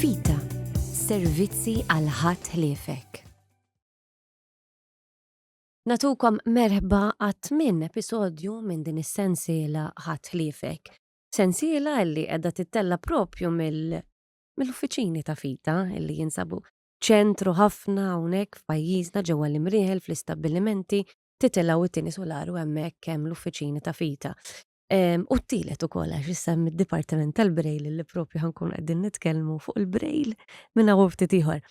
Vita, servizzi għal ħadd ħliefek. Nagħtukom merħba għat-tmien episodju minn din is-sensiela Ħadd Ħliefek. Sensiela li qiegħda tittella' propju mill-uffiċini ta' Vita li jinsabu ċentru ħafna hawnhekk f'pajjiżna ġewwa l-imrieħel fl-istabbilimenti titilgħu it-tieni solaru hemmhekk hemm l-uffiċini ta' Vita. U t-tielet ukoll għax issa hemm id-Dipartiment tal-Brejl li propju ħankun qegħdin nitkellmu fuq il-Brejl minn hawn ftit ieħor.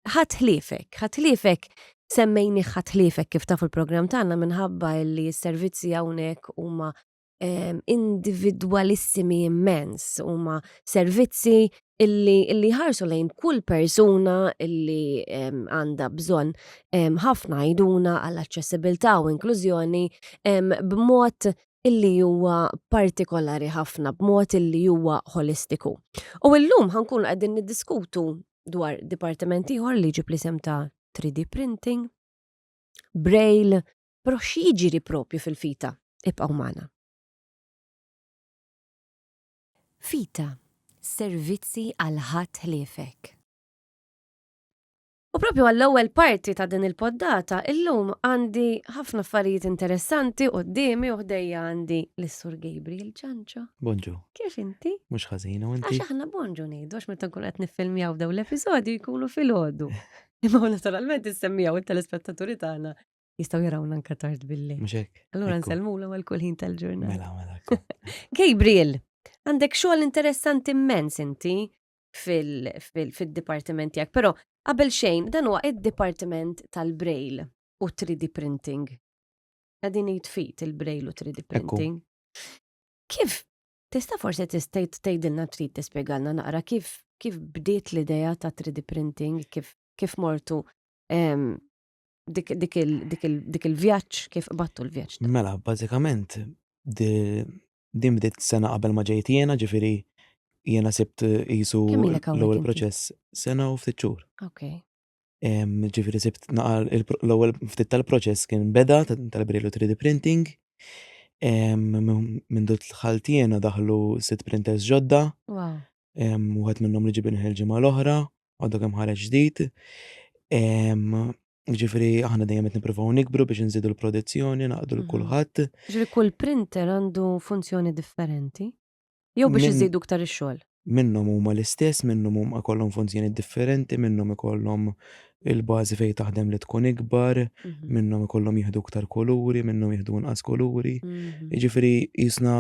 Ħadd ħliefek, ħadd ħliefek semmejni ħadd ħliefek kif taf il-programm tagħna minħabba li s-servizzi hawnhekk huma individwalissimi immens, huma servizzi illi illi ħarsu lejn kull persuna illi għandha bżonn ħafna għajduna għall aċċessibilità u inklużjoni b'mod illi huwa partikolari ħafna, b'mod illi huwa ħolistiku. U llum ħankun qegħdin niddiskutu dwar dipartiment ieħor li ġib l-isem ta' 3D printing, braille, però x'jiġri propju fil-fita ibqgħu magħna. Vita, servizzi għal ħadd ħliefek. U propju għall-ewwel parti ta' din il-poddata, illum għandi ħafna affarijiet interessanti qudiemi u ħdejja għandi lis-Sur Gabriel Ġanġo. Bonġu. Kif inti? Mhux ħażin u inti. Għax aħna bonġu ngħidu għax meta nkun qed niffilmjaw dawn l-episodju jkunu fil-ħodu. Imma naturalment issemmijaw it-telespettaturi tagħna Jistaw jarawna anka tard billi. Mhux hekk. Allura nsellmulhom għal kull ħin tal-ġurnata. Mela, mela. Gabriel, għandek xogħol interessanti immens inti fil-dipartiment tiegħek, però qabel xejn dan huwa id-dipartiment tal-braille u 3D printing. Għadin jitfit il-braille u 3D printing. Kif tista' forse tistejt tgħidilna trid tispjegalna naqra kif kif bdiet l-idea ta' 3D printing, kif kif mortu dik il-vjaġġ kif qbattu l-vjaġġ. Mela, bażikament din bdiet sena qabel ma ġejt jiena, ġifieri jiena sibt jisu l-ewwel proċess sena u ftit xhur. Okay. Ġifieri sibt naqal l-ewwel ftit tal-proċess kien beda tal-brilu 3D printing. Minn dut l-ħaltiena daħlu sit printers ġodda. wieħed minnhom li ġibin il-ġimgħa l-oħra, għadu kemm ħareġ ġdid. Ġifri, aħna dejjem qed nippruvaw nikbru biex nżidu l-produzzjoni, naqdu l-kulħadd. Mhm. Ġifri, kull printer għandu funzjoni differenti? Jew biex iżidu ktar ix-xogħol? Minnhom huma l-istess, minnhom huma kollhom funzjoni differenti, minnhom ikollhom il-bażi fejn taħdem li tkun ikbar, mhm. minnhom ikollhom jieħdu iktar kuluri, minnhom jieħdu inqas kuluri. Mhm. Jiġifieri jisna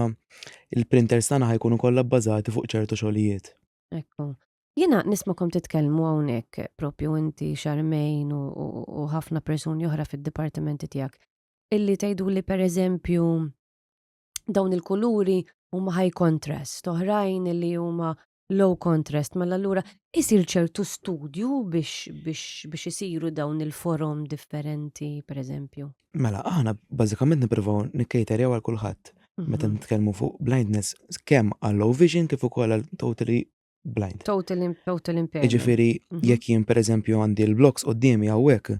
il-printers tagħna ħajkunu kollha bbażati fuq ċertu xogħlijiet. Ekku. Jiena nismakom titkellmu hawnhekk propju inti xarmejn u ħafna persuni oħra fid-dipartimenti tiegħek. Illi tgħidu li pereżempju dawn il-kuluri huma high contrast, oħrajn li huma low contrast, ma allura isir ċertu studju biex isiru dawn il-forum differenti, per eżempju. Mela, aħna bażikament nippruvaw nikkejterjaw għal kulħadd. Mhm. Meta nitkellmu fuq blindness, kemm għal low vision kif ukoll għal totally blind. Total, total impairment. Ġifiri, mhm. jekk jien per eżempju għandi l-bloks u d-dimi għawek,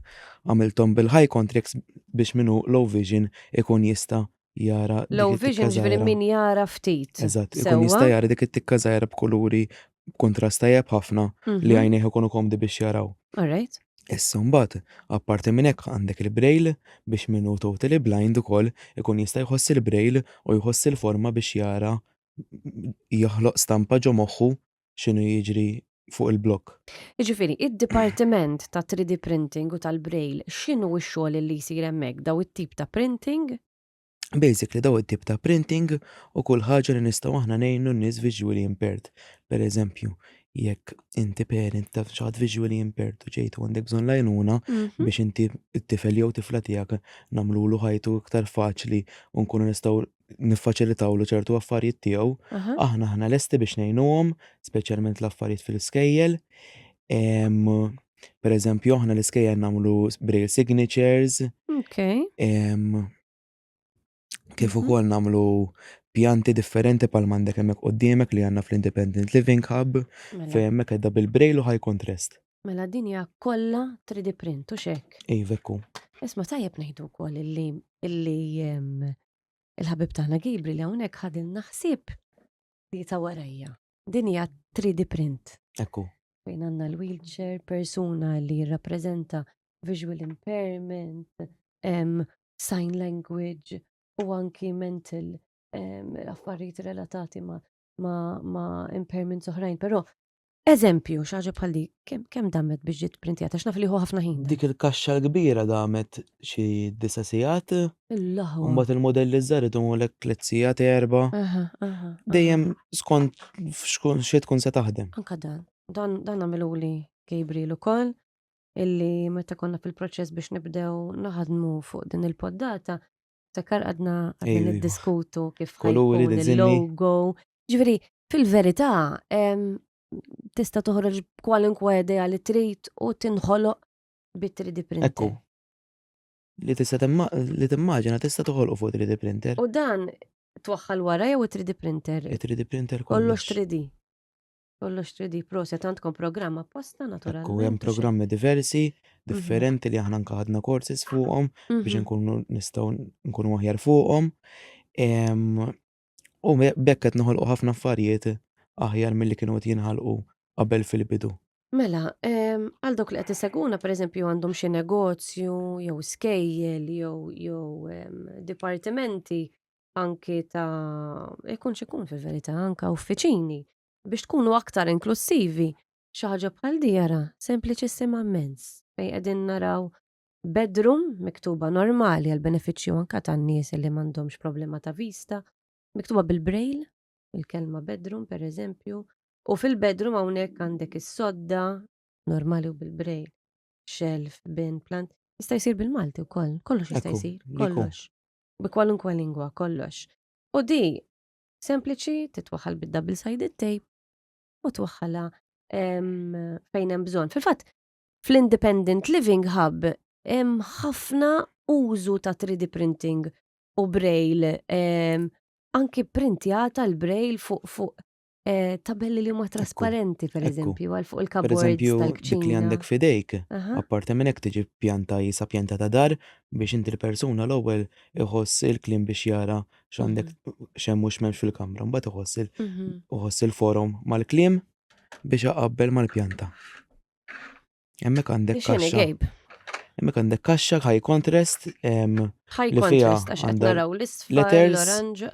għamiltom bil-high contracts biex minu low vision ikun jista jara. Low vision ġviri min jara ftit. Eżatt, ikun jista' jara dik it-tikka żgħira b'kuluri b'kuntrast tajjeb ħafna li mhm. għajnejh ikunu komdi biex jaraw. Alright. Issa mbagħad, apparti minn hekk għandek il-braille biex min hu totally blind ukoll ikun jista' jħoss il-braille u jħoss il-forma biex jara jaħloq stampa ġo moħħu x'inhu jiġri fuq il-blokk. Jiġifieri, id-dipartiment ta' 3D printing u tal-braille x'inhu x-xogħol li jsir hemmhekk, dawn it-tip ta' printing? Basically dawn it-tip ta' printing u kull ħaġa li nistgħu aħna ngħinu n-nies visually impaired. Pereżempju, jekk inti parent ta' xi ħadd visually impaired u ġejt u għandek bżonn l-għajnuna mhm. biex inti t-tifel jew tifla tiegħek nagħmlulu ħajtu iktar faċli u nkunu nistgħu niffaċilitawlu ċertu affarijiet tiegħu, aħna aħna lesti biex ngħinuhom, speċjalment l-affarijiet fil-iskejjel. Per eżempju, aħna l-iskejjel nagħmlu braille signatures. Okay. Kif mhm. ukoll nagħmlu pjanti differenti pal mandek hemmhekk qudiemek li għandna fl-Independent Living Hub mela. fejn hemmhekk qedda bil-braille u high contrast. Mela din hija kollha 3D print u xek. Ej, vekku. Isma tajjeb ngħidu wkoll illi illi il-ħabib tagħna Gibri li hawnhekk ħadil naħsib li ta' warajja. Din hija 3D print. Ekku. Fejn għandna l-wheelchair, persuna li jirrappreżenta visual impairment, um, sign language u anki mental um, affarijiet relatati ma, ma, ma impairments oħrajn, però Eżempju, xi ħaġa bħal dik, kemm kemm damet biex ġiet printjata x'naf li hu ħafna ħin. Dik il-kaxxa l-kbira damet xi disa' sigħat. Il-laħwa. Mbagħad il-mudelli żgħar idumulek tliet sigħat erba'. Aha, aha. Dejjem skont f'xkun xi tkun se taħdem. Anka dan. Dan dan għamiluli Gabriel ukoll illi meta konna fil-proċess biex nibdew naħdmu fuq din il-poddata, Takkar għadna għadna niddiskutu kif koluri il-logo. Ġveri, fil-verità, tista toħroġ kwalinkwa idea li trid u tinħoloq bi 3D printer. Ekku. Li tista li timmaġina tista toħolqu fuq 3D printer. U dan twaħħal wara jew 3D printer? 3D printer kollox. Kollox 3D. Kollox 3D proset għandkom programm apposta naturalment. Ekku hemm programmi diversi, mhm. differenti li aħna nkaħadna korsis fuqhom biex mhm. nkunu nistgħu nkunu aħjar fuqhom. U bekk qed noħolqu ħafna affarijiet aħjar milli kienu qed jinħalqu qabel fil-bidu. Mela, għal dok li qed iseguna pereżempju għandhom xi negozju jew skejjel jew jew dipartimenti anki ta' ikun xikun fil-verità anka uffiċini biex tkunu aktar inklussivi xi ħaġa bħal di jara sempliċissima mmens fejn qegħdin naraw bedroom miktuba normali għall-benefiċċju anka tan-nies li m'għandhomx problema ta' vista miktuba bil-braille il-kelma bedroom pereżempju u fil-bedroom hawnhekk għandek is-sodda normali u bil-braille shelf bin plant jista' jsir bil-Malti wkoll kollox jista' jsir kollox. bi kwalunkwe lingwa kollox. U di sempliċi titwaħħal bid-double sided tape u twaħħalha fejn hemm bżonn. Fil-fatt, fl-Independent Living Hub hemm ħafna użu ta' 3D printing u braille anki printjata l-braille fuq fuq Eh, tabelli li huma trasparenti, per eżempju, għal fuq il-kabord. Per eżempju, dik li għandek fidejk, apparti minn hekk tiġi pjanta jisa pjanta ta' dar biex inti l-persuna l-ewwel iħoss il-klim biex jara x'għandek mhm. xemm u x'memx fil-kamra, mbagħad iħoss mhm. il-forum mal-klim biex aqabbel mal-pjanta. Hemmhekk għandek kaxxa. Hemmhekk għandek kaxxa high contrast. High contrast għax qed naraw l-isfel, l-oranġ.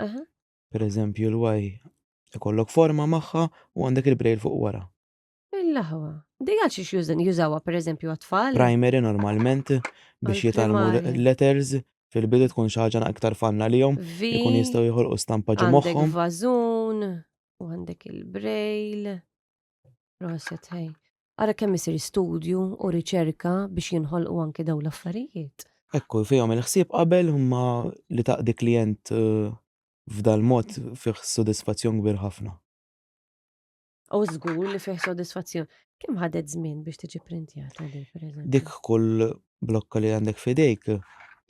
Per eżempju l-Y ikollok forma magħha u għandek il-brejl fuq wara. Il-laħwa. Di għal xiex jużin jużawa per eżempju għat-tfal? Primary normalment biex jitalmu letters fil-bidu tkun xaġa iktar fanna li jom. Ikun jistaw jħolqu stampa ġo moħħom. Għandek vażun, u għandek il-brejl. Proset, hej. Ara kemm isir studju u riċerka biex jinħolqu anki dawn l-affarijiet. Hekk hu, fihom il-ħsieb qabel imma li taqdi klijent f'dal-mod fih sodisfazzjon kbir ħafna. U żgur li fih sodisfazzjon. Kemm ħadet żmien biex tiġi pprintjata din, pereżempju? Dik kull blokka li għandek f'idejk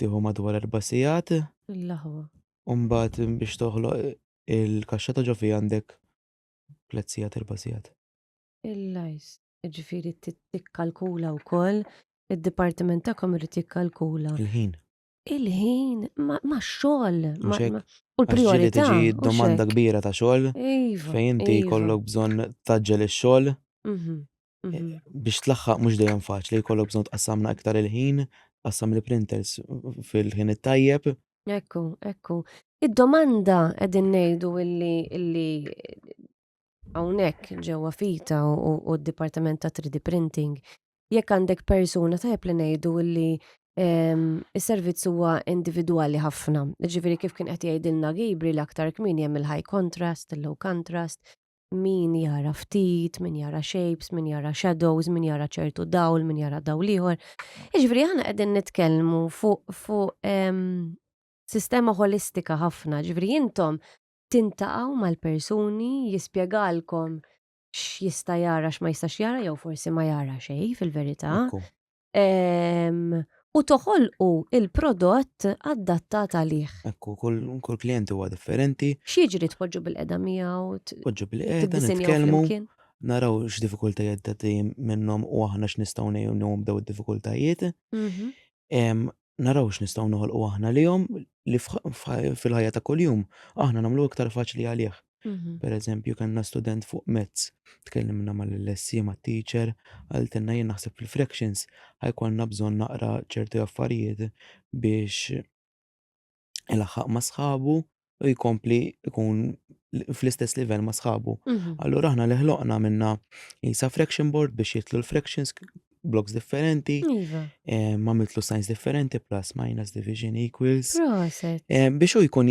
tieħu madwar erba' sigħat. L-aħwa. U mbagħad biex toħloq il-kaxxa ta' ġo fija għandek tliet sigħat erba' sigħat. Il-lajst, jiġifieri tikkalkula wkoll, id-dipartiment tagħkom irid jikkalkula. Il-ħin. Il-ħin, ma' xogħol. U l-priorità. Tiġi domanda kbira ta' xogħol. Iva. Fejn inti jkollok iva. bżonn taġġel ix-xogħol. Mhm. Mhm. biex tlaħħaq mhux dejjem faċli, jkollok bżonn tqassamna iktar il-ħin, tqassam il-printers fil-ħin it-tajjeb. Ekku, ekku. Id-domanda qegħdin ngħidu illi illi hawnhekk ġewwa fita u, u, u d-Dipartiment ta' 3D Printing, jekk għandek persuna tajjeb li ngħidu illi em, is-servizz huwa individwali ħafna. Ġifieri kif kien qed jgħidilna Gabriel aktar kmieni hemm il-high contrast, il-low contrast, min jara ftit, min jara shapes, min jara shadows, min jara ċertu dawl, min jara dawl ieħor. Iġveri ħana qegħdin nitkellmu fuq fu, ehm, sistema holistika ħafna, ġveri intom tintaqaw mal-persuni jispjegalkom x'jista' jara x'ma jistax jara jew forsi ma jara xejn fil-verità. Ehm, u toħolqu il-prodott adattat għalih. Ekku, kull kull klient huwa differenti, X'jiġri tpoġġu bil-qeda miegħu, t- poġġu bil-qeda, tiddisinjaw nitkellmu, flimkien. naraw x'diffikultajiet ta' tim minnhom u aħna x'nistgħu ngħinuhom b'daw id-diffikultajiet. Mhm. Em, naraw x'nistgħu noħolqu aħna lihom li fil-ħajja ta' kuljum aħna nagħmlu iktar faċli għalih. Mhm. Per eżempju, kellna student fuq mezz, tkellimna mal-lessi ma' teacher, għaltenna jien naħseb fil-fractions, ħajkolna bżonn naqra ċerti affarijiet biex ilaħħaq ma' sħabu u jkompli jkun fl-istess livell ma' sħabu. Mhm. Allura aħna li ħloqna minna jisa fraction board biex jitlu l-fractions bloks differenti, Iva. eh, ma' mitlu signs differenti, plus, minus, division, equals. Proset. Eh, biex u jkun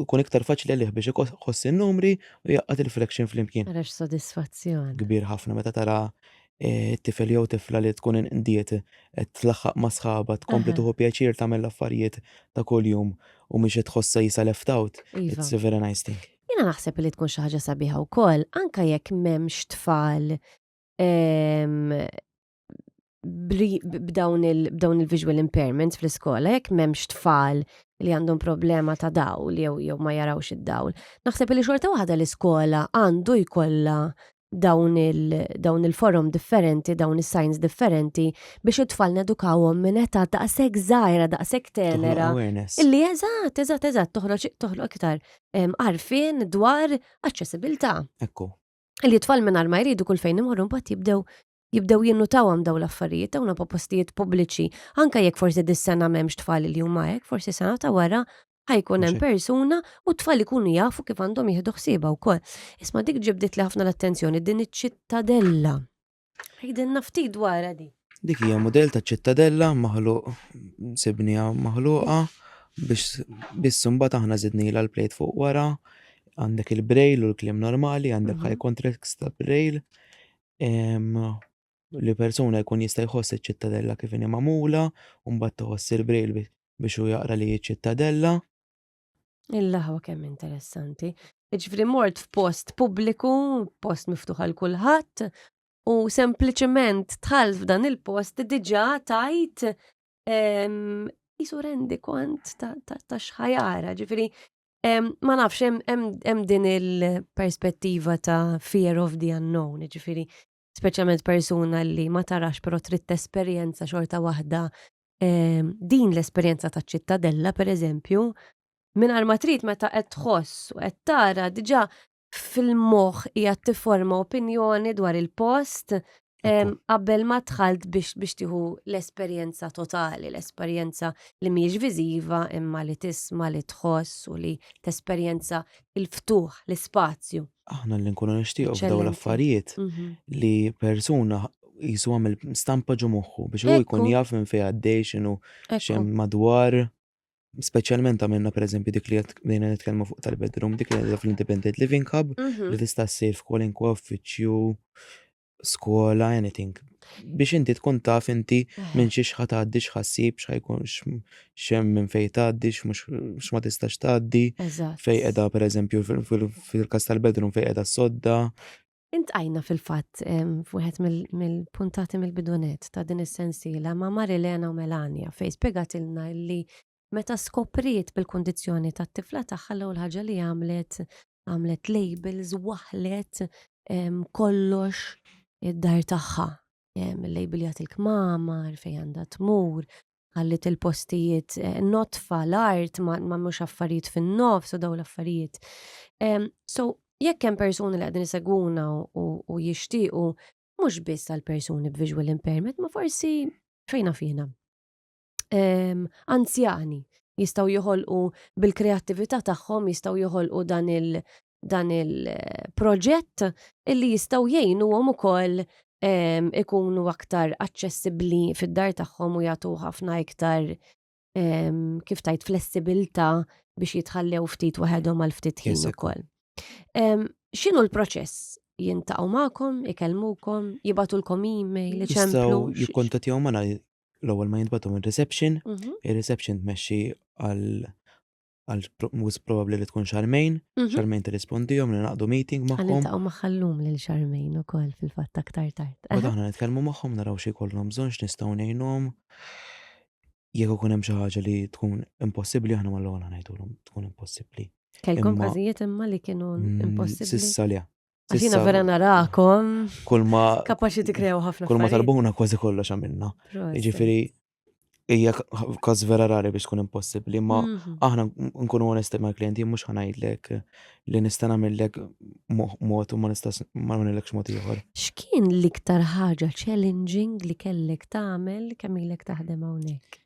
jkun iktar faċli liħ biex iħoss il-numri u jaqqat il-fraction fl-imkien. Għarax sodisfazzjon. Kbir ħafna meta tara eh, tifel jew tifla li tkun inqdiet qed tlaħħaq ma' sħaba tkompli tuħu pjaċir tagħmel l-affarijiet ta' kuljum u mhix qed tħossha jisa left out. Iva. It's a very nice thing. Jiena naħseb li tkun xi ħaġa sabiħa wkoll anke jekk m'hemmx tfal ehm, b'dawn il-visual impairments fl-iskola, jekk m'hemmx tfal li għandhom problema ta' dawl jew jew ma jarawx id-dawl. Naħseb li xorta waħda l-iskola għandu jkollha dawn il-forum differenti, dawn is-signs differenti biex it-tfal nedukawhom minn età daqshekk żgħira, daqshekk tenera. Illi eżatt, eżatt, eżatt toħroġ toħloq iktar għarfien dwar aċċessibilità. Ekku. Illi t-tfal mingħajr ma jridu kull fejn imorru mbagħad jibdew jibdew jinnutawhom daw l-affarijiet dawna po postijiet pubbliċi, anke jekk forsi dis-sena m'hemmx tfal li huma hekk, forsi sena ta' wara ħajkun hemm persuna u t-tfal ikunu jafu kif għandhom jieħdu ħsieba wkoll. Isma' dik ġibdit li ħafna l-attenzjoni din iċ-ċittadella. Ħidilna ftit dwarha di. Dik hija mudell ta' ċittadella maħluq sibnija maħluqa biex biss imbagħad aħna żidnila l-plejt fuq wara għandek il-brail u l-klim normali, għandek mhm. high contracts ta' brail, li persuna jkun jista' jħoss iċ-ċittadella kif inhi magħmula u mbagħad tħoss il-brejl biex hu jaqra li ċittadella. Il-laħwa kemm interessanti. Ġifri mort f'post pubbliku, post miftuħ għal kulħadd, u sempliċement tħall f'dan il-post diġà tajt jisu rendi kont ta' xħajara, ġifri Ma nafx, hemm din il-perspettiva ta' fear of the unknown, ġifiri, speċjalment persuna li ma tarax però trid esperjenza xorta waħda din l-esperjenza ta' ċittadella, per eżempju, minn ma trid meta qed tħoss u qed tara diġà fil-moħħ qiegħed tifforma opinjoni dwar il-post qabel ma dħalt biex biex tieħu l-esperjenza totali, l-esperjenza li mhijiex viżiva imma li tisma' li tħoss u li tesperjenza il-ftuħ, l-ispazju. Aħna li nkunu nixtiequ f'daw l-affarijiet mhm. li persuna jisu għamil stampa ġo moħħu biex u jkun jaf minn fejn għaddej x'inhu xem madwar. Speċjalment għamilna per eżempju dik li bdejna nitkellmu fuq tal-bedroom, dik li fl-Independent Living Hub, mhm. li tista' ssir f'kwalinkwa uffiċċju, skola, anything. Biex inti tkun taf inti eh. minn xi xħat għaddi xħassib, xħajkun xem minn fej tgħaddi, x'ma tistax tgħaddi, fej qiegħda per eżempju fil-kas tal-bedroom fej qiegħda sodda, Intqajna fil-fatt f'wieħed mill-puntati mill-bidunet ta' din is-sensiela ma' Marilena u Melania fejn spjegatilna li meta skopriet bil-kundizzjoni tat-tifla tagħha l-ewwel ħaġa li għamlet għamlet labels waħlet kollox id-dar tagħha. Il-label jagħti l-kmamar fejn għandha tmur, ħallit il-postijiet eh, notfa l-art ma mhux affarijiet fin-nofs u daw l-affarijiet. So, jekk hemm persuni li qegħdin isegwuna u jixtiequ mhux biss għal persuni b'visual impairment, ma forsi fejna fina. Anzjani jistaw joħolqu bil-kreattività tagħhom jistaw joħolqu dan il dan il-proġett illi jistgħu jgħinuhom ukoll ehm, ikunu aktar aċċessibbli fid-dar tagħhom u jagħtu ħafna iktar ehm, kif tajt flessibilità biex jitħallew ftit waħedhom għal ftit ħin ukoll. Ehm, x'inhu l-proċess? Jintaqgħu magħkom, ikellmukom, jibatulkom email, iċemplu. Jikkontattjaw magħna l-ewwel ma jintbagħtu minn reception, mhm. ir-reception tmexxi għal għal mus probabli li tkun xarmejn, mhm. xarmejn t-rispondijom li naqdu meeting maħħom. Għalin taqom maħallum li xarmejn u koll fil-fatta ktar tard. U daħna nitkelmu maħħom naraw xie kollom bżon x'nistgħu ngħinhom. Jekk ikun hemm xi ħaġa li tkun impossibbli aħna mal-ewwel ngħidulhom tkun impossibbli. Kellkom każijiet imma li kienu mm, impossibbli. Sissa li. Għaxina vera narakom. Kull ma. Kapaxi ti krew ħafna. Kull ma talbuna kważi kollox għamilna. Ġifiri, hija każ vera rari biex tkun impossibbli, ma mhm. aħna nkunu onesti mal klienti mhux ħanajdlek li nista' nagħmellek mod u ma nistax ma nagħmellekx mod ieħor. X'kien l-iktar ħaġa challenging li kellek tagħmel kemm ilek taħdem hawnhekk?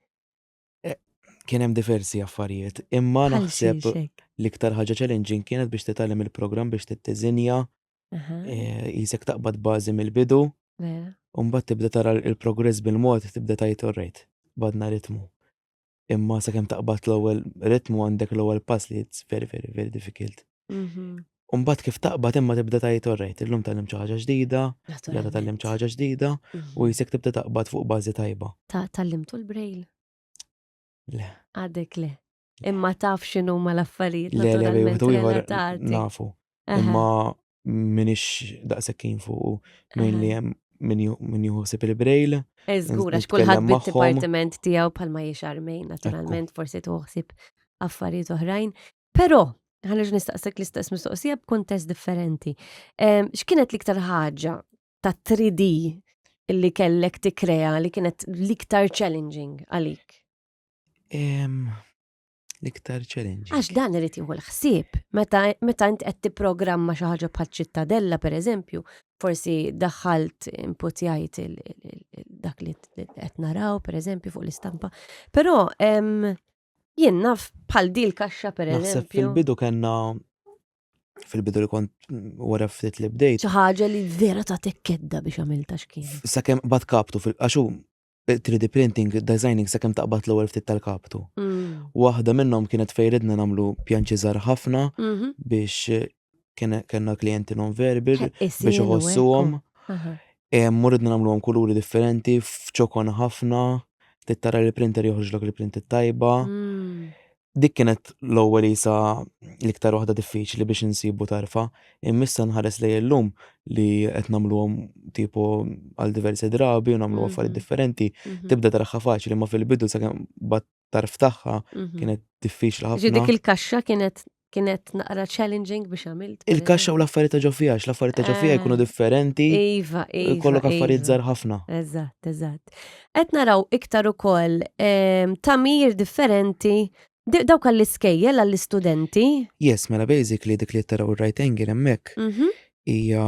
Kien hemm diversi affarijiet, imma naħseb l-iktar ħaġa challenging kienet biex titgħallem il-programm biex tittiżinja, eh, jisek taqbad bażi mill-bidu, u mbagħad tibda tara l-progress bil-mod tibda tajt orrejt, badna ritmu. Imma sakemm taqbad l-ewwel ritmu għandek l-ewwel pass li it's very very very difficult. Mhm. Umbat kif taqbad imma tibda tajt orrejt, illum tal-lim ċaħġa ġdida, jgħada tal-lim ċaħġa ġdida, mhm. u jisek tibda taqbad fuq bazi tajba. Ta' tal-lim tul brejl? Le. Għadek le. Imma taf xinu ma l-affarijiet. Le, le, le, tu jħor nafu. Imma minix daqsekkin fuq, minn li jem minn juħsib il-brejl. Eżgur, għax kullħat bit-dipartiment tijaw palma jiexar mejn, naturalment, forsi tuħsib affarijiet oħrajn. Però, ħanerġa' nistaqsek l-istess mistoqsija b'kuntest differenti. Ehm, x'kienet l-iktar ħaġa ta' 3D li kellek tikkrea li kienet l-iktar challenging għalik? Ehm, l-iktar challenging. Għax dan irid jieħu l-ħsieb. Meta meta int qed tipprogramma xi ħaġa bħal ċittadella pereżempju, forsi daħħalt imputjajt il- il- il- dak li qed naraw pereżempju fuq l-istampa. Però ehm, Jien naf bħal di l-kaxxa per eżempju. Fil-bidu kena fil-bidu li kont wara ftit li bdejt. ħaġa li vera ta' tekkedda biex għamilta xkien. Sakemm bat kaptu fil-qaxu 3D printing, designing sakemm taqbad l-ewwel ftit tal-kaptu. Mm. Waħda minnhom kienet fejridna nagħmlu pjanċiżar ħafna mhm. biex kellna klijenti non-verbal eh, biex isiru, eh, iħossuhom. oh, aha. Eh, Muridna nagħmluhom kuluri differenti, f'ċokon ħafna, trid tara li l-printer joħroġlok il-print it-tajba. Mm. Dik kienet l-ewwel isa l-iktar waħda diffiċli biex insibu tarfa. Immissa nħares lejn illum li qed nagħmluhom tipo għal diversi drabi u nagħmlu affarijiet Mhm. differenti. Mhm. Tibda taraħħa faċli ma fil-bidu sakemm bat tarf tagħha mhm. kienet diffiċli ħafna. Ġi dik il-kaxxa kienet kienet naqra challenging biex għamilt. Il-kaxxa u l-affarijiet ta' ġofija, l-affarijiet ta' ġofija jkunu ah. differenti. Iva, iva. Kollok iva. affarijiet żgħar ħafna. Eżatt, eżatt. Qed naraw iktar ukoll ehm, tamir differenti dawk għall-iskejjel għall-istudenti. Yes, mela basically dik li taraw right angle hemmhekk mhm. hija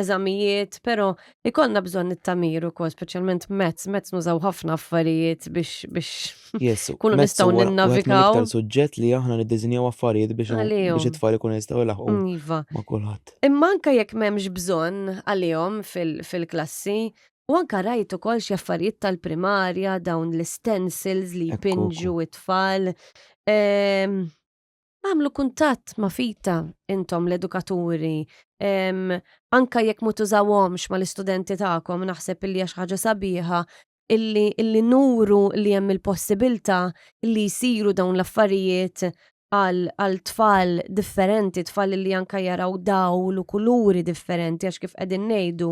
eżamijiet, pero ikonna bżon it-tamir u kol, specialment mezz, mezz nużaw ħafna affarijiet biex biex kunu nistaw ninnavigaw. Għet suġġett li aħna niddizinjaw affarijiet biex biex it-tfal ikun jistaw laħu. Iva. Ma kulħadd. Imma anka jekk m'hemmx bżonn għalihom fil-klassi, U anka rajt ukoll xi affarijiet tal-primarja dawn l-stencils li jpinġu it-tfal. Ehm, Għamlu kuntatt ma' fita intom l-edukaturi, anka jekk ma tużawhomx ma' l-istudenti tagħkom naħseb illi għax ħaġa sabiħa illi, illi nuru li hemm il-possibilità li jsiru dawn l-affarijiet għal tfal differenti, tfal li anka jaraw dawl u kuluri differenti għax kif qegħdin ngħidu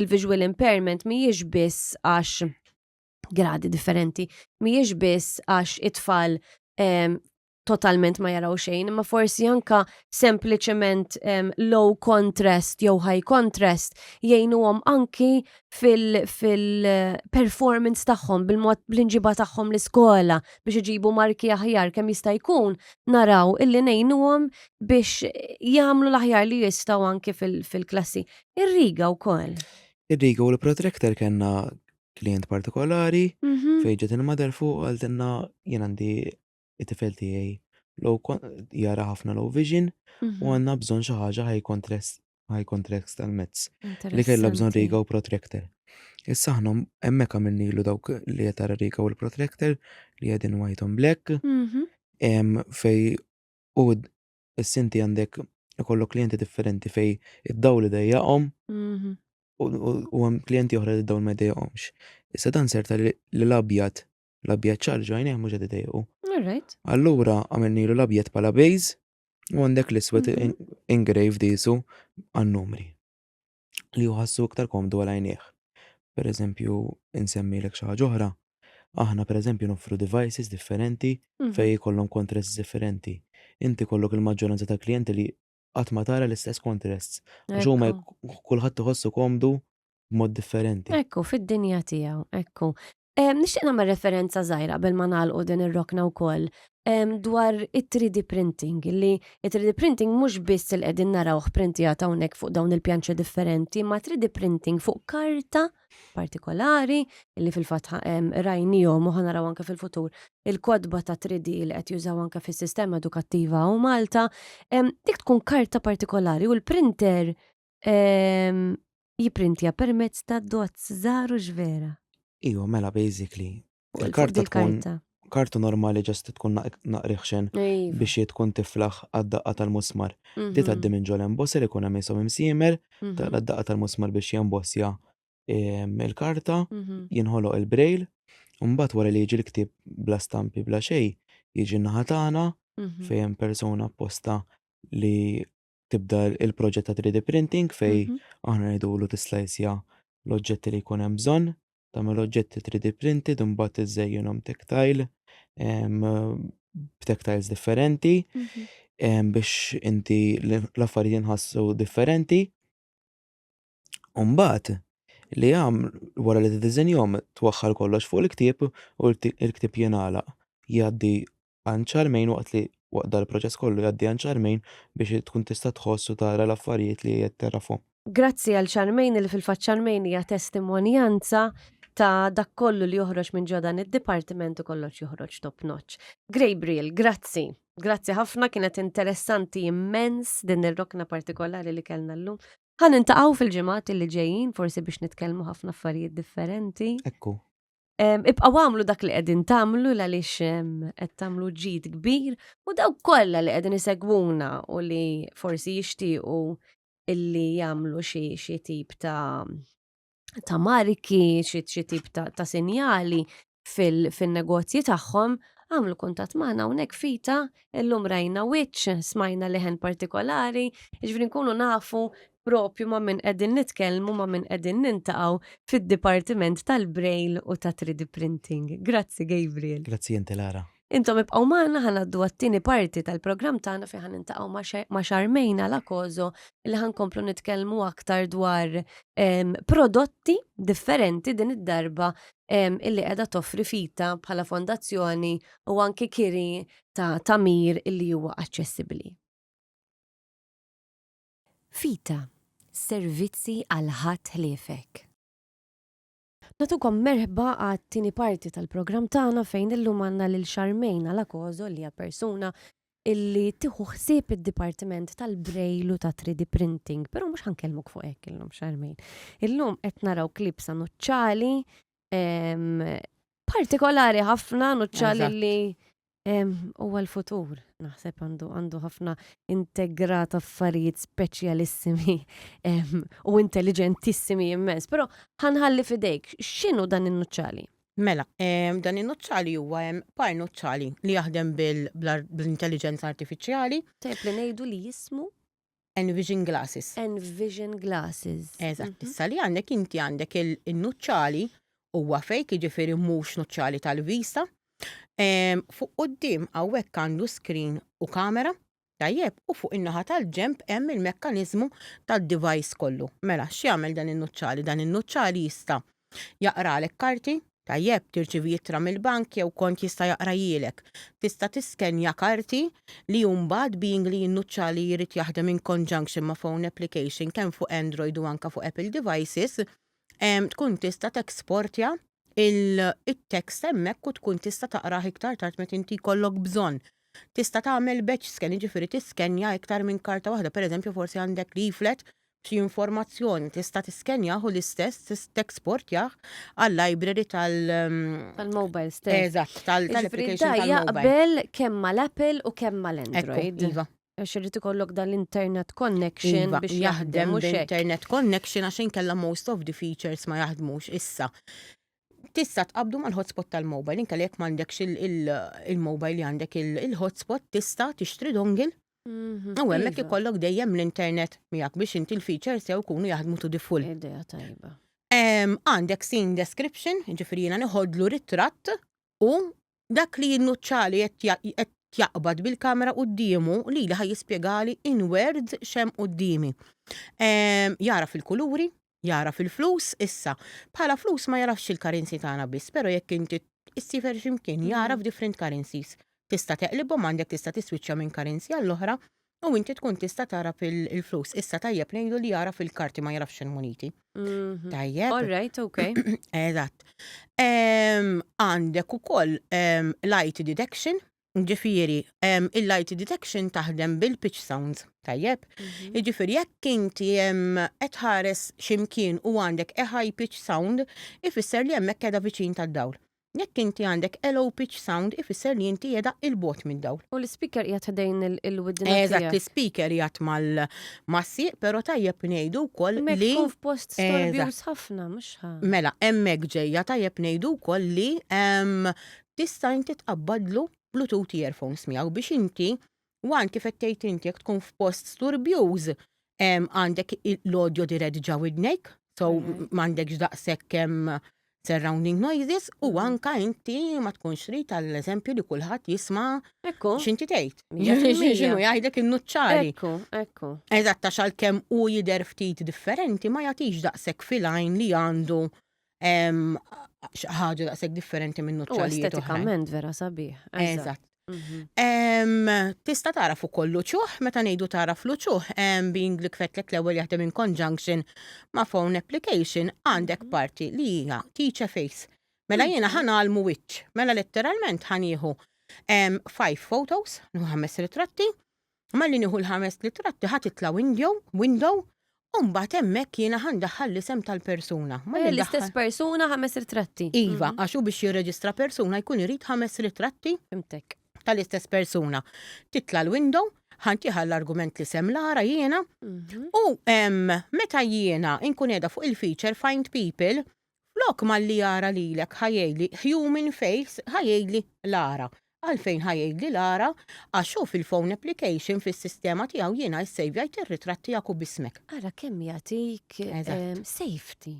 il-visual impairment mhijiex biss għax gradi differenti, mhijiex biss għax it-tfal totalment ma jaraw xejn, imma forsi anka sempliċement um, low contrast jew high contrast jgħinuhom anki fil-performance fil tagħhom bil-mod bl-inġiba tagħhom l-iskola biex iġibu marki aħjar kemm jista' jkun naraw illi ngħinuhom biex jagħmlu l-aħjar li jistgħu anki fil-klassi. Fil Ir-riga wkoll. Ir-riga u l-protractor kellna klient partikolari mm -hmm. fejn ġiet il-madar fuq għaltinna jien għandi it-tifel tiegħi jara ħafna low vision u mhm. għandna bżonn xi ħaġa high contrast high contrast tal-mezz li kellha bżonn riga u protractor. Issa aħna hemmhekk għamilnilu dawk li qed tara riga u l-protractor li qegħdin white on black mhm. fej u s-sinti għandek ikollok klijenti differenti fej id-daw li dejjaqhom mhm. u hemm klijenti oħra li dawn ma dejjaqhomx. Issa dan serta li l-abjad L-abjad ċar ġajnejh mhux qed idejqu. Alright. Allura għamilnilu l-abjad bħala bejz u għandek l-iswed mhm. ingrave disu għan-numri li uħassu iktar komdu għal għajnejh. Per eżempju, insemmi l-ek xaħġa oħra, aħna per eżempju noffru devices differenti mhm. fej kollom kontress differenti. Inti kollok il-maġġoranza ta' klienti li qatt ma tara l-istess kontrest. Għax huma kulħadd iħossu komdu b'mod differenti. Ekku, fid-dinja tiegħu, ekku. Nixtieq nagħmel referenza żgħira qabel ma nagħlqu din ir-rokna wkoll dwar it-3D printing li it-3D printing mhux biss il qegħdin narawh printijat hawnhekk fuq dawn il-pjanċi differenti, ma 3D printing fuq karta partikolari li fil-fatt rajnijom u ħanaraw anke fil-futur il-kodba ta' 3D li qed jużaw anke fis-sistema edukattiva u Malta, dik tkun karta partikolari u l-printer jipprintja permezz ta' dots żgħar u x'vera. Iva, mela basically, Il-karta tkun kartu normali ġast tkun naqriħxen iva. biex jiet tkun tiflaħ għad-daqqa tal-musmar. Di mhm. taddi minn ġol emboss li kuna misom imsimer, mhm. taqla d-daqqa tal-musmar biex jembossja ehm, il-karta, mhm. jinħoloq il-brejl, Umbat wara li jiġi l-ktib bla stampi bla xej, jiġi naħatana fejn persona apposta li tibda il-proġett ta' 3D printing fej Mhm. aħna ngħidulu tislajsja l-oġġetti li jkun hemm bżonn, tagħmel oġġetti 3D printed imbagħad iżżejjinhom tactile em, b'tactiles differenti Mhm. em, biex inti l- l-affarijiet jinħassu differenti. U mbagħad li għam wara li tiddiżenjhom twaħħal kollox fuq il-ktieb u l-kti- il-ktieb jingħalaq jgħaddi għan xarmejn waqt li waqt dan il-proċess kollu jgħaddi għan xarmejn biex tkun tista' tħoss u tara l-affarijiet li qed tagħrafhom. Grazzi għal xarmejn li fil-fatt xarmejn hija testimonjanza ta' dak kollu li joħroġ minn ġo dan id-dipartiment u kollox joħroġ top notch. Grabriel, grazzi. Grazzi ħafna kienet interessanti immens din ir-rokna partikolari li kellna llum. Ħa nintaqgħu fil-ġimgħat li ġejjin forsi biex nitkellmu ħafna affarijiet differenti. Ekku. Ibqaw għamlu dak li qegħdin tagħmlu għaliex qed tagħmlu ġid kbir u daw kollha li qegħdin isegwuna u li forsi jixtiequ illi jagħmlu xi xi tip ta' ta' marki, xi tip ta', ta sinjali fil-negozji fil tagħhom, għamlu kuntat magħna hawnhekk fita, illum rajna wiċċ, smajna leħen partikolari, ġifri nkunu nafu propju ma' min qegħdin nitkellmu, ma' min qegħdin niltaqgħu fid-dipartiment tal-Braille u ta' 3D Printing. Grazzi Gabriel. Grazzi inti Lara. Intom ibqgħu magħna ħa ngħaddu għat-tieni parti tal-programm tagħna fejn ħa niltaqgħu ma' Charmaine Alacoso li ħa nkomplu nitkellmu aktar dwar ehm, prodotti differenti din id-darba ehm, illi qiegħda toffri fita bħala fondazzjoni u anki kiri ta' tamir illi huwa aċċessibbli. Vita, servizzi għal ħadd ħliefek. Nagħtukom merħba għat-tieni parti tal-programm tagħna fejn illum għandna lil Charmaine Alacozo li hija persuna illi tieħu ħsieb id-dipartiment tal-braille u ta' 3D printing, però mhux ħankellmuk fuq hekk illum xarmejn. Illum qed naraw klib sanuċċali partikolari ħafna nuċċal li huwa l-futur. Naħseb għandu għandu ħafna integrat affarijiet speċjalissimi u intelligentissimi immens, però ħanħalli fidejk, x'inhu dan in-nuċċali? Mela, dan in-nuċċali huwa hemm par nuċċali li jaħdem bil-intelligenza artifiċjali. Tajb li ngħidu li jismu Envision glasses. Envision glasses. Eżatt, issa li għandek inti għandek il-nuċċali huwa fejk jiġifieri mhux nuċċali tal-vista. Ehm, fuq quddiem hawnhekk għandu screen u kamera, tajjeb, u fuq in-naħa tal-ġemp hemm il-mekkaniżmu tad-device kollu. Mela, x'jagħmel dan in-nuċċali? Dan in-nuċċali jista' Jaqralek karti? Tajjeb, tirċievi ittra mill-bank jew kont jista' jaqrajhielek? Tista' tiskenja karti li hu mbagħad being li jinnuċċa li jrid jaħdem in conjunction ma' phone application kemm fuq Android u anke fuq Apple devices, tkun tista' teksportja il-text hemmhekk u tkun tista' taqrah iktar tard meta inti jkollok bżonn. Tista' tagħmel batch scan jiġifieri tiskenja iktar minn karta waħda, pereżempju forsi għandek leaflet xi informazzjoni, tista' tiskenjah u l-istess teksportjah għal-library tal- Tal-mobile stess. Eżatt, tal-application tal-mobile. Jiġifieri da jaqbel kemm mal-Apple u kemm mal-Android. Ekku, iva. Għax irid ikollok dan l-internet connection biex jaħdem, mhux hekk? Iva, jaħdem b'internet connection għax inkella most of the features ma jaħdmux. Issa, tista' tqabbdu mal-hotspot tal-mobile, inkella jekk m'għandekx il-mobile li għandek il-hotspot tista' tixtri dongle Mhm. U hemmhekk Iva, ikollok dejjem l-internet miegħek biex inti l-features jew ikunu jaħdmu to the full. Idea tajba. Em, Għandek scene description, ġifiri jiena niħodlu ritratt u dak li jinnuċċali qed ja- qed jaqbad bil-kamera quddiemu li li ħaj jispjegali in words xem qudiemi. Em, Jara fil-kuluri, Jagħraf il-flus issa. Bħala flus ma jagħrafx il-currency tagħna biss, però jekk inti issiefer xi mkien jagħraf different currencies. Tista' teqlibhom għandek tista' tiswiċċja minn currency għall-oħra u inti tkun tista' tagħraf il-flus. Issa tajjeb ngħidu li jagħraf il-karti ma jagħrafx il-muniti. Mhm. Tajjeb. All right, okay. Eżatt. Em, Għandek ukoll em, light deduction, Ġifieri, il-light detection taħdem bil-pitch sounds, tajjeb? Mhm. Ġifieri, jekk inti qed tħares x'imkien u għandek a high pitch sound, ifisser li hemmhekk qiegħda viċin tad-dawl. Jekk inti għandek a low pitch sound, ifisser li inti qiegħda il-bot mid-dawl. U l-speaker qiegħed ħdejn il-widna. Eżatt, l-speaker qiegħed mal-massi, però tajjeb ngħidu wkoll li. Tkun f'post storbjuż ħafna, mhux Mela, hemmhekk ġejja tajjeb ngħidu wkoll li tista' inti tqabbadlu Bluetooth earphones miegħu biex inti one kif qed tgħid inti jekk tkun f'post sturbjuż għandek l-audio dirett ġa widnejk so m'għandekx daqshekk surrounding noises u anke inti ma tkunx trid għall-eżempju li kulħadd jisma' x'inti tgħid. X'inhu jgħidlek in-nuċċari. Ekku, ekku. Eżatt għax għalkemm hu jidher ftit differenti ma jagħtix daqshekk fil-għajn li għandu ħaġa daqshekk differenti minn nuċċalijiet. Estetikament vera sabiħ. Eżatt. Mhm. Tista tara fuq kollu ċuħ, meta ngħidu tara flu ċuħ, being li kfetlek l-ewwel jaħdem in conjunction ma' phone application għandek mhm. parti li hija teach a face. Mela jiena mhm. ħanalmu wiċċ, mela letteralment ħanieħu five photos, ħames ritratti, Malli nieħu l-ħamest ritratti ħa titla' windjow, window, u mbagħad hemmhekk jiena ħa ndaħħal l-isem tal-persuna. Malli Eh, L-istess ndaħħal- persuna ħames ritratti. Iva, għax hu biex jirreġistra persuna jkun irid ħames ritratti Fimtek. tal-istess persuna. Titla' l-window, ħantieħa l-argument li sem l-ara jiena, Mhm. u em, meta jiena nkun qiegħda fuq il-feature Find People, Flok malli jara lilek ħa jgħidli human face ħa jgħidli Lara. Għalfejn ħa jgħidli Lara? Għax hu fil-phone application fis-sistema tiegħu jiena issejvjajt ir-ritratt tiegħek u b'ismek. Ara kemm jagħtik safety.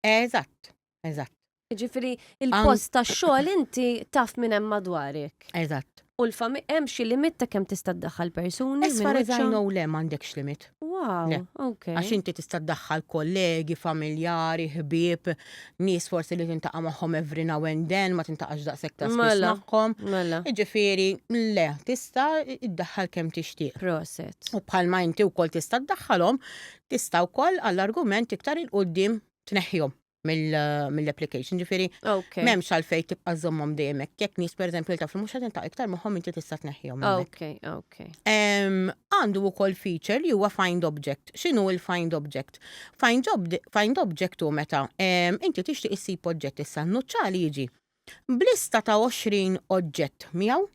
Eżatt, eżatt. Jiġifieri il-post tax-xogħol inti taf minn hemm madwarek. Eżatt. U l-familja, hemm xi limit ta' kemm tista' ddaħħal persuni? As far as I know le m'għandekx limit. Wow, ok. Għax inti tista' ddaħħal kollegi, familjari, ħbieb, nies forsi li tintaqa' magħhom every now and then, ma tintaqax daqshekk ta' spiss magħhom. Mela. Jiġifieri, le, tista' ddaħħal kemm tixtieq. Proset. U bħalma inti wkoll tista' ddaħħalhom, tista' wkoll għall-argument iktar il-quddiem tneħħihom. mill-application, ġifiri, memx għalfej tibqa zommom dejjem jekk nis per eżempju taf li mhux qed intaq iktar magħhom inti tista' tneħħihom. Ok, ok. Għandu wkoll feature li huwa find object. X'inhu il-find object? Find object hu meta inti tixtieq issib oġġett issa nuċċali jiġi blista ta' 20 oġġett miegħu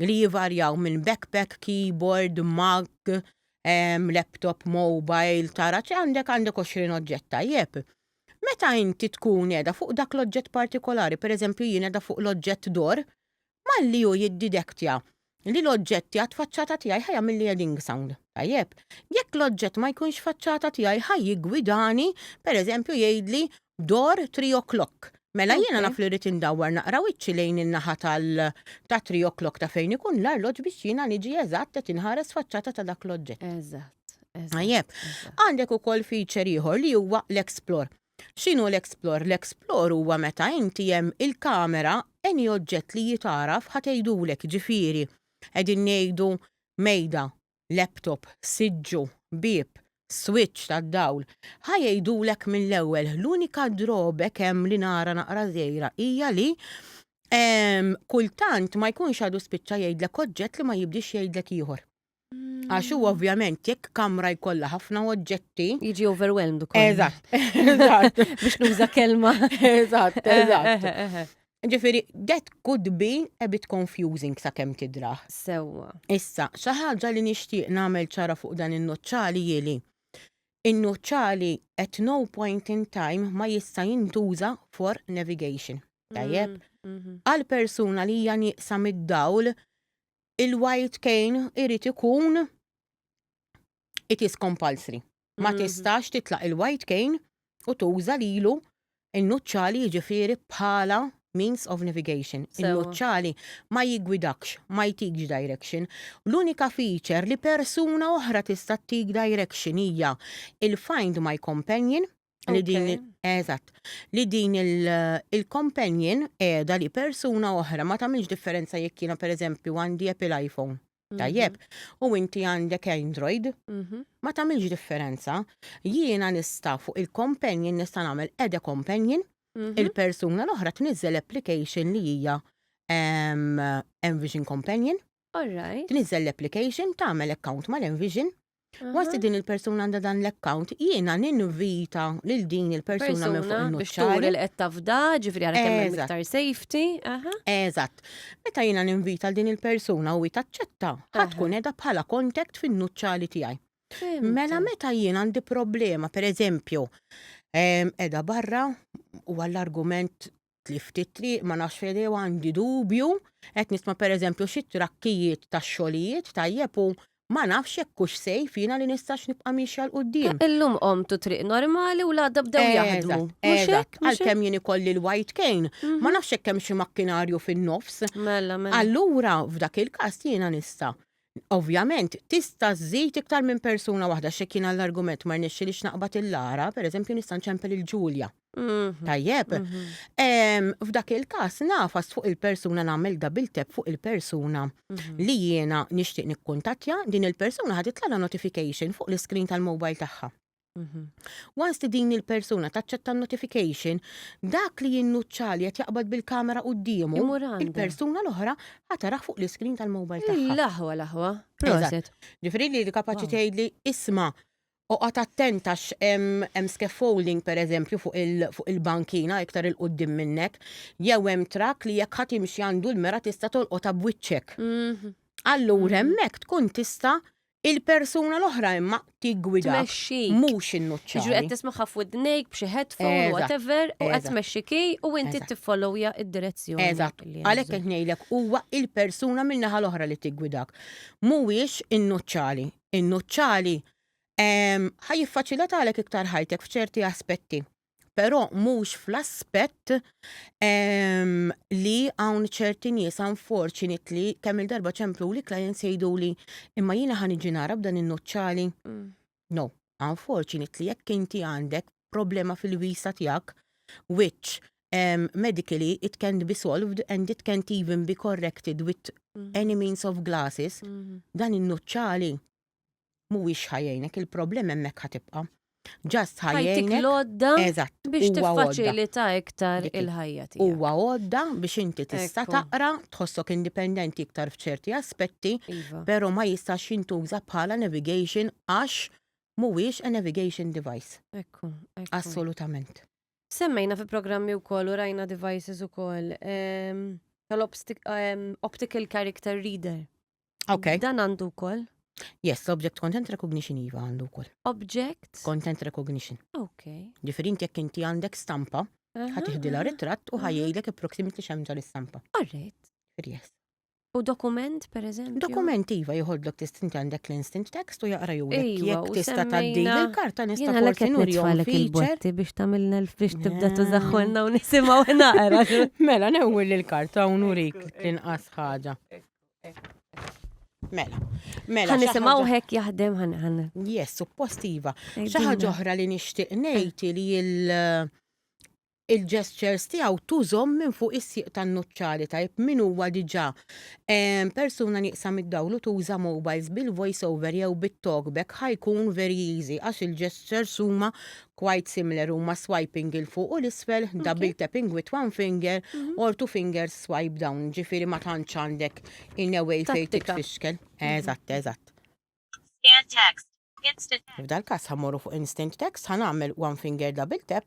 li jivarjaw minn backpack, keyboard, mug, ehm, laptop, mobile, tara ċe għandek għandek 20 oġġett tajjeb. Meta inti tkun qiegħda fuq dak l-oġġett partikolari, pereżempju jien qiegħda fuq l-oġġett dor, malli hu jiddidektja li l-oġġetti għad faċċata tiegħi ħa jagħmilli heading sound. Tajjeb, jekk l-oġġett ma jkunx faċċata tiegħi ħaj jiggwidani, pereżempju jgħidli dor 3 o'clock. Mela jiena naf li rrid indawwar naqra wiċċi lejn in-naħa tal ta' 3 o'clock ta' fejn ikun l-arloġġ biex jiena niġi eżatt qed inħares faċċata ta' dak l-oġġett. Eżatt. Għajjeb, għandek ukoll feature ieħor li huwa l-explore. X'inhu l-explore? L-explore huwa meta inti hemm il-kamera any oġġett li jitgħaraf ħa tgħidulek ġifieri qegħdin ngħidu mejda laptop, siġġu, bieb, swiċċ tad-dawl, ħa jgħidulek mill-ewwel l-unika drawback hemm li nara naqra żgħira hija li kultant ma jkunx għadu spiċċa jgħidlek oġġett li ma jibdiex jgħidlek ieħor. Għax huwa ovvjament jekk kamra jkollha ħafna oġġetti. Jiġi overwhelmed ukoll. Eżatt, eżatt. Biex nuża kelma. Eżatt, eżatt. Ġifieri, that could be a bit confusing sakemm tidrah. Sewwa. Issa, xi ħaġa li nixtieq nagħmel ċara fuq dan in-nuċċali hi li n-nuċċali at no point in time ma jista' jintuża for navigation. Tajjeb? Għal persuna li hija nieqsa mid-dawl, il-white cane irid ikun it is compulsory. Ma mm-hmm. tistax titlaq il-white cane u tuża lilu in-nuċċali jiġifieri bħala means of navigation. Il-nuċċali ma jigwidakx, ma jtikx direction. L-unika feature li persuna oħra tista' tik direction hija il-find my companion li din eżatt li din il-companion qiegħda li persuna oħra ma tagħmilx differenza jekk jiena pereżempju għandi Apple iPhone Tajjeb, mhm. u inti għandek Android, mhm. ma tagħmilx differenza. Jiena nista' fuq il-companion nista' nagħmel ede companion, mhm. il-persuna l-oħra tniżel application li hija Envision Companion. Alright. Tniżel l-application, tagħmel account mal-Envision, Waqt li din il-persuna għandha dan l-account, jiena ninvita lil din il-persuna minn fuq Persuna biex il-nuċċar. turi li qed tafda, ġifri għara kemm hemm Eżatt. iktar safety. Aha. Eżatt. Meta jiena ninvita l din il-persuna u hi taċċetta, ħa Aha. tkun edha bħala contact fin-nuċċali tiegħi. Fimtu. Mela meta jien għandi problema, per eżempju, em, edha barra u għall-argument tlift it-triq, ma nafx fejn għandi dubju, qed nisma' pereżempju xi trakkijiet tax-xogħlijiet tajjeb u ma nafx jekk hux sejf jiena li nistax nibqa' miexja 'l quddiem. Illum qommtu triq normali u l-għada bdew jaħdmu. Mhux hekk? Għalkemm jien ikolli l-white cane, ma nafx jekk hemm xi makkinarju fin-nofs. Mela, mela. Allura f'dak il-każ jiena nista' Ovvjament, tista' żżid iktar minn persuna waħda għax jekk jien għall-argument ma rnexxilix naqbad il-Lara, pereżempju nista' nċempel lil Ġulja. Tajjeb? F'dak il-każ nagħfas fuq il-persuna nagħmel double tap fuq il-persuna li jiena nixtieq nikkuntattja, din il-persuna ħa titlagħlha notification fuq l-iskrin tal-mobile tagħha. Mhm. Once li din il-persuna taċċetta notification, dak li jinnuċċali qed jaqbad bil-kamera quddiemu, il-persuna l-oħra ħataraħ fuq l-iskrin tal-mobile tagħha. L-aħwa l-aħwa. Proset. Ġifieri li kapaċi tgħidli isma' u qat attenta hemm scaffolding pereżempju fuq il-bankina iktar il-qudiem minnek, jew hemm trak li jekk ħadd imxi għandu l-mera tista' tolqotha b'wiċċek. Mhm. Allura mhm. hemmhekk tkun tista' Il-persuna l-oħra imma tiggwidak. Tmexxik. Mhux innuċċali. Jiġri qed tismaħħa f'widnejk b'xi headphone whatever u qed tmexxi key u inti tiffollowja d-direzzjoni. Eżatt. Għalhekk qed ngħidlek huwa il-persuna min-naħa l-oħra li tiggwidak. Mhuwiex innuċċali. Innuċċali ħa jiffaċilitalek iktar ħajtek f'ċerti aspetti. però mhux fl-aspett ehm, li hawn ċerti nies unfortunate li kemm il-darba ċemplu li clients jgħidu li imma jiena ħan iġi nara b'dan in-nuċċali. Mm. No, unfortunate li jekk inti għandek problema fil-visa tiegħek which um, medically it can be solved and it can't even be corrected with mm. any means of glasses, mm. dan in-nuċċali mhuwiex ħa jgħinek, il-problem hemmhekk ħa tibqa'. Just ħa Ħajtik jgħinek. l-għodda Eżatt, biex huwa għodda. tiffaċilita iktar Dik hi. il-ħajja tiegħek. Huwa għodda biex inti tista' Ekku. taqra, tħossok indipendenti iktar f'ċerti aspetti, Iva. però ma jistax jintuża bħala navigation għax mhuwiex a navigation device. Ekku, ekku. Assolutament. Semmejna fi programmi wkoll u rajna devices ukoll ehm, tal-optical character reader. Ok. Dan għandu wkoll. Yes, l-object content recognition iva għandu wkoll. Object? Content recognition. Ok. Ġifieri inti jekk inti għandek stampa, ħatiħdilha ritratt u ħajjgħidlek il-proximity x'hemm tal-istampa. Alright. Yes. U dokument, per eżempju? Dokument iva jħoddlok tistinti għandek l-instant text u jaqra ju jek tista taddi il-karta nista forsi nurjom il-botti biex tamilna biex tibda tużaxħolna u nisimaw naqra. Mela, newwil il-karta u nurik l-inqas ħaġa. Mela, mela. Għan nisimaw hekk jaħdem għan għan. Yes, suppostiva. Xaħġa ġoħra li nishtiq nejti li il- eh, il-gestures tiegħu tużom minn fuq is-sieq tan-nuċċari tajb min huwa diġà eh, persuna nieqsa mid-dawlu tuża mobiles bil-voice over jew bit-talkback ħajkun very easy għax il-gestures huma Quite similar huma swiping il fuq u l-isfel, double tapping with one finger, mhm. or two fingers swipe down, ġifiri ma tantx għandek in a way fejn titfixkel. Eżatt, eżatt. Scan text. Instant. F'dal każ ħammorru fuq instant text ħanagħmel one finger double tap.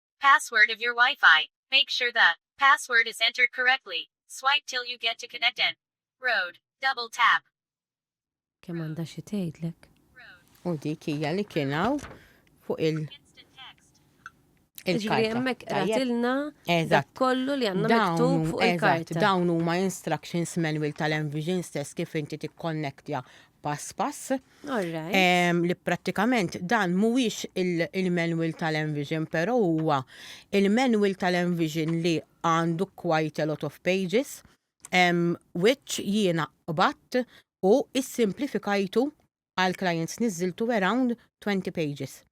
Password of your Wi-Fi. Make sure the password is entered correctly. Swipe till you get to connect and road. Double tap. Kemm għandha xi tgħidlek. U dik hija li kien hawn fuq il- Ġifieri hemmhekk qratilna dak kollu li għandna miktub fuq il-karta. Dawn huma instructions manual tal-Envision stess kif inti tikkonnektja pass pass. Ehm, li prattikament dan mhuwiex il-manual tal-Envision, però huwa il-manual tal-Envision li għandu quite a lot of pages, ehm, which jiena qbatt u issimplifikajtu għal clients niżiltu around 20 pages.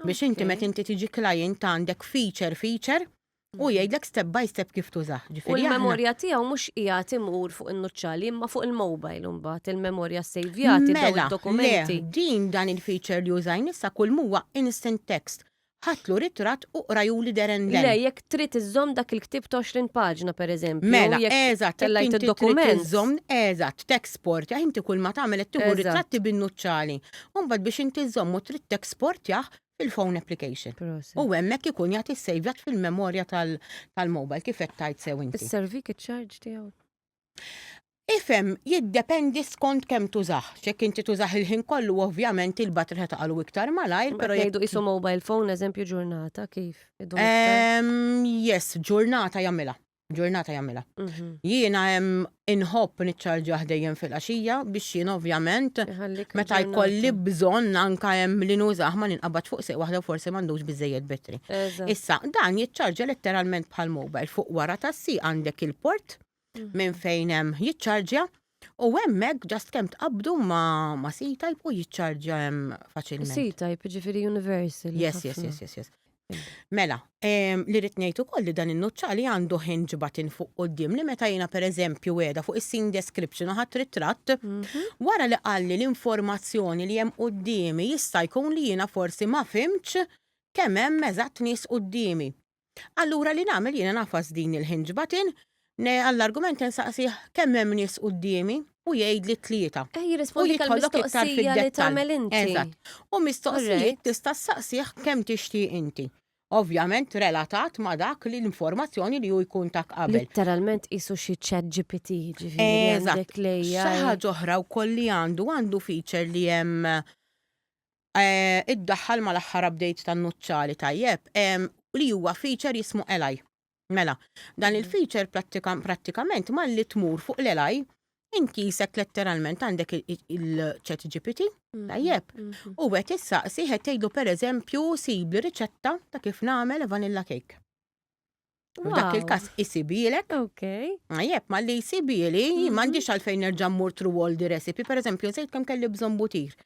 Biex inti meta inti tiġi client għandek feature feature u mhm. jgħidlek step by step kif tużah. U l-memorja tiegħu mhux qiegħed imur fuq in-nuċċali imma fuq il-mobile imbagħad il-memorja sejvjati dawn mela, dokumenti. Din dan il-feature li użajn issa kull huwa instant text ħatlu ritrat u qraju li deren Le, jekk trid iżżomm dak il-ktib 20 paġna per eżempju. Mela, eżatt, tellajt il-dokument. Iżżomm, eżatt, t-export, inti kull ma tagħmel qed tieħu ritratti bin-nuċċali. u mbagħad biex inti żżommu trid teksportjah fil-phone application. Proset. U hemmhekk ikun jagħti ssejvjat fil-memorja tal- tal-mobile kif qed tgħid sew inti. Isservik iċ-charge tiegħu? Ifhem, jiddependi skont kemm tużah. X'jekk inti tużah il-ħin kollu ovvjament il-battery ħa taqalu iktar malajr, Qed però jekk ngħidu qisu mobile phone, eżempju ġurnata, kif? Idum iktar? Ehm, yes, ġurnata jagħmilha. ġurnata jagħmilha. Mhm. Jiena hemm inħobb niċċarġjah dejjem fil-għaxija biex jien ovvjament Iħallik meta ġurnata. jkolli bżonn anka hemm li nużah ma ninqabad fuq seq waħda u forsi m'għandux biżejjed betri. Eżatt. Issa, dan jiċċarġja letteralment bħal mobile fuq wara tassi għandek il-port minn fejn hemm jiċċarġja U hemmhekk ġast kemm tqabdu ma, ma C-Type u jiċċarġja hemm faċilment. C-Type, ġifieri universal. Yes, yes, yes, yes, yes. Mela, ehm, li rrid ngħid ukoll li dan in-nuċċali għandu hinge button fuq quddiem li meta jiena pereżempju qiegħda fuq is-scene description u ħadd ritratt, mhm. wara li qalli l-informazzjoni li hemm quddiemi jista' jkun li jiena forsi ma fimx kemm hemm eżatt nies quddiemi. Allura li nagħmel jiena nafas din il-hinge button, ne għall-argument insaqsih kemm hemm nies quddiemi u jgħidli tlieta. Eh, jirrispondik għall-mistoqsija li tagħmel inti. Eżatt. U mistoqsijiet tista' ssaqsih kemm tixtieq inti. Ovvjament relatat ma' dak li l-informazzjoni li hu jkun tak qabel. Litteralment qisu xi chat GPT, ġifieri għandek l-AI. Xi ħaġa oħra wkoll li għandu għandu feature li hemm iddaħħal mal-aħħar update tan-nuċċali tajjeb li huwa feature jismu Ally. Mela, dan il-feature prattikament malli tmur fuq l-Ally inti jisek letteralment għandek il-chat GPT, mm-hmm. tajjeb, mm-hmm. u għet issaqsi għet tgħidlu per eżempju sibli riċetta ta' kif nagħmel vanilla cake. Dak il-kas isibilek. Ok. Jep, ma li isibili, mhm. mandiċ għalfejn nerġa mur tru all di recipe. Per eżempju, zejt kem kelli bżon butir.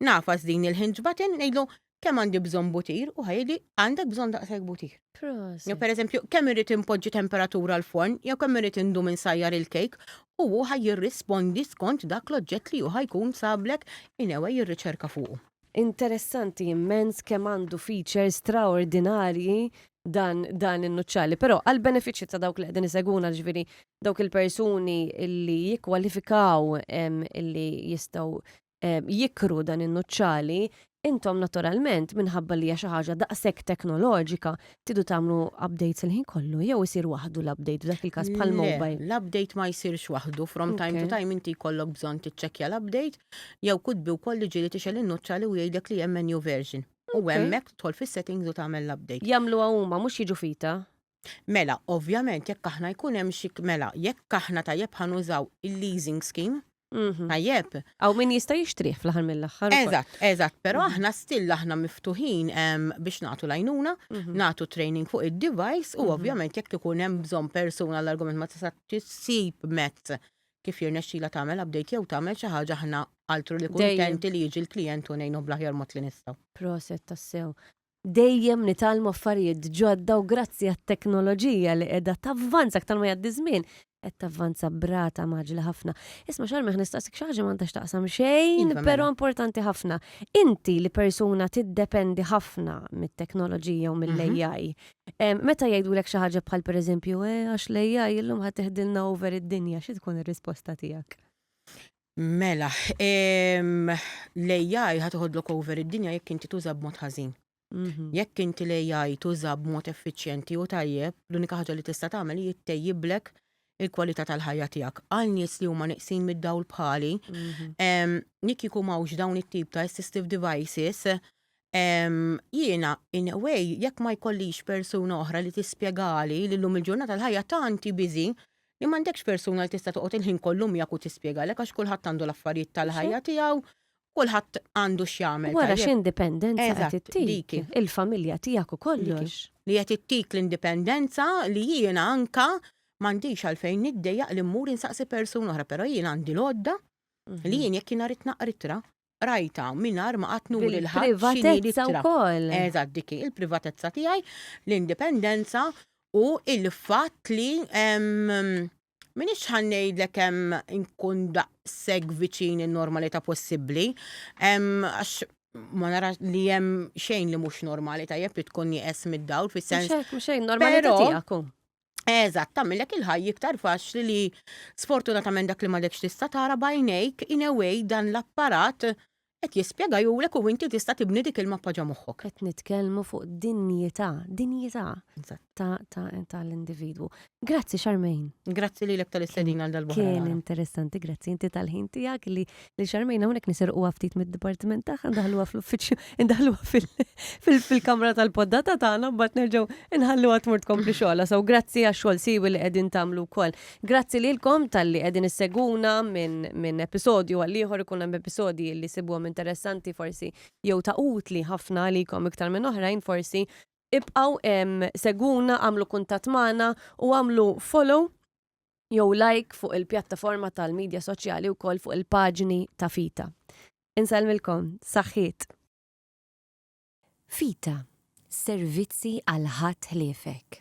Nafas din il-hinġ batin, nejlu kem għandi bżon butir u ħajli għandek bżon daqseg butir. Jo per eżempju, kem irrit impoġġi temperatura l-forn, jew kem irrit indu minn sajjar il-kejk, u hu ħaj jirrispondi skont dak l-oġġett li hu ħajkun sablek inewe jirriċerka fuq. Interessanti immens kemm għandu features straordinarji dan dan in-nuċċali. Però għall-benefiċċju ta' dawk li qegħdin isegwuna ġifieri dawk il-persuni li jikkwalifikaw li jistgħu jikru dan in-nuċċali, intom naturalment minħabba li hija xi ħaġa daqshekk teknoloġika tidu tagħmlu updates il-ħin kollu jew isir waħdu l-update f'dak il-każ bħall-mobile? L-update ma jsirx waħdu, from time to time inti jkollok bżonn tiċċekkja l-update Jew kutbi wkoll li ġieli tixgħel in-nuċċali u jgħidlek li hemm menu version. U hemmhekk tidħol fis-settings u tagħmel l-update. Jagħmluha huma, mhux jiġu fita? Mela, ovvjament jekk aħna jkun hemm xi, mela, jekk aħna tajjeb ħa nużaw il-leasing scheme, tajjeb? Hawn min jista' jixtrih fl-aħħar mill-aħħar ukoll. Eżatt, eżatt, però aħna still aħna miftuħin biex nagħtu l-għajnuna, nagħtu training fuq id-device u ovvjament jekk ikun hemm bżonn persuna għall-argument ma tista' ssib mezz kif jirnexxilha tagħmel update jew tagħmel xi ħaġa aħna altru li kuntenti li jiġi l-klijent u ngħinuh bl-aħjar mod li nistgħu. Proset tassew. Dejjem nitgħallmu affarijiet ġodda u grazzi għat-teknoloġija li qiegħda tavvanza aktar ma jgħaddi ż-żmien, qed tavvanza b'rata mgħaġġla ħafna. Isma' Xarmi ħa nistaqsik xi ħaġa ma għandha x'taqsam xejn, Iva, mela. però importanti ħafna. Inti li persuna tiddependi ħafna mit-teknoloġija u mill-AI, Meta jgħidulek xi ħaġa bħal pereżempju, E, għax l-AI illum ħa teħdilna over id-dinja, xi tkun ir-risposta tiegħek? Mela, l-AI ħa toħodlok over id-dinja jekk inti tuża b'mod ħażin. Jekk inti l-AI tuża b'mod effiċjenti u tajjeb, l-unika ħaġa li tista' tagħmel hi ttejjiblek il-kwalità tal-ħajja tiegħek. Għal nies li huma neqsin mid-dawl bħali, jekk ikun m'hawnx dawn it-tip ta' assistive devices, Jiena, in a way, jekk ma jkollix persuna oħra li tispjegali li llum il-ġurnata l-ħajja tant hi busy li m'għandekx persuna li tista' toqgħod il-ħin kollu miegħek u tispjegalek għax kulħadd għandu l-affarijiet tal-ħajja tiegħu, kulħadd għandu x'jagħmel tajjeb. Wara x'indipendenza qed ittik il-familja tiegħek u kollox. Li qed ittik l-indipendenza li jiena anke m'għandix għalfejn niddejjaq li mmur insaqsi persuna oħra, però jiena għandi l-għodda li jien jekk jiena rrid naqra ittra, rajta mingħajr ma qatt nuri l Privatezza wkoll. Eżatt dik il-privatezza tiegħi, l-indipendenza u il-fatt li minix ħannejdlek hemm inkun daqshekk viċin in-normalità possibbli, għax ma nara li hemm xejn li mhux normali tajjeb li tkun nieqes mid-dawl fis-sens. Mhux xejn normalità tiegħek. Eżatt, tagħmilek il-ħajja iktar faċli li sfortunatament dak li m'għadekx tista' tara bajnejk in a way dan l-apparat qed jispjega jurek u inti tista' tibni dik il-mappa ġo moħħok. Qed nitkellmu fuq dinjità, dinjità tal-individwu. Grazzi Charmaine. Grazzi lilek tal-istedina għal dal-boħra. Kien interessanti, grazzi inti tal-ħin tiegħek li li xarmejn hawnhekk nisirquha ftit mid-dipartiment tagħha ndaħluha fl-uffiċċju, ndaħluha fil-kamra tal-poddata tagħna mbagħad nerġgħu nħalluha tmur tkompli xogħla. So grazzi għax-xogħol siwi li qegħdin tagħmlu wkoll. Grazzi lilkom talli qegħdin isseguna minn episodju għal ieħor ikun hemm episodji li sibuhom interessanti forsi jew ta' utli ħafna għalikom iktar minn oħrajn forsi ibqgħu seguna għamlu kuntatt magħna u għamlu follow jew like fuq il-pjattaforma tal-midja soċjali wkoll fuq il-paġni ta' Fita. Insellmilkom, saħħiet! Fita, servizzi għal ħadd ħliefek.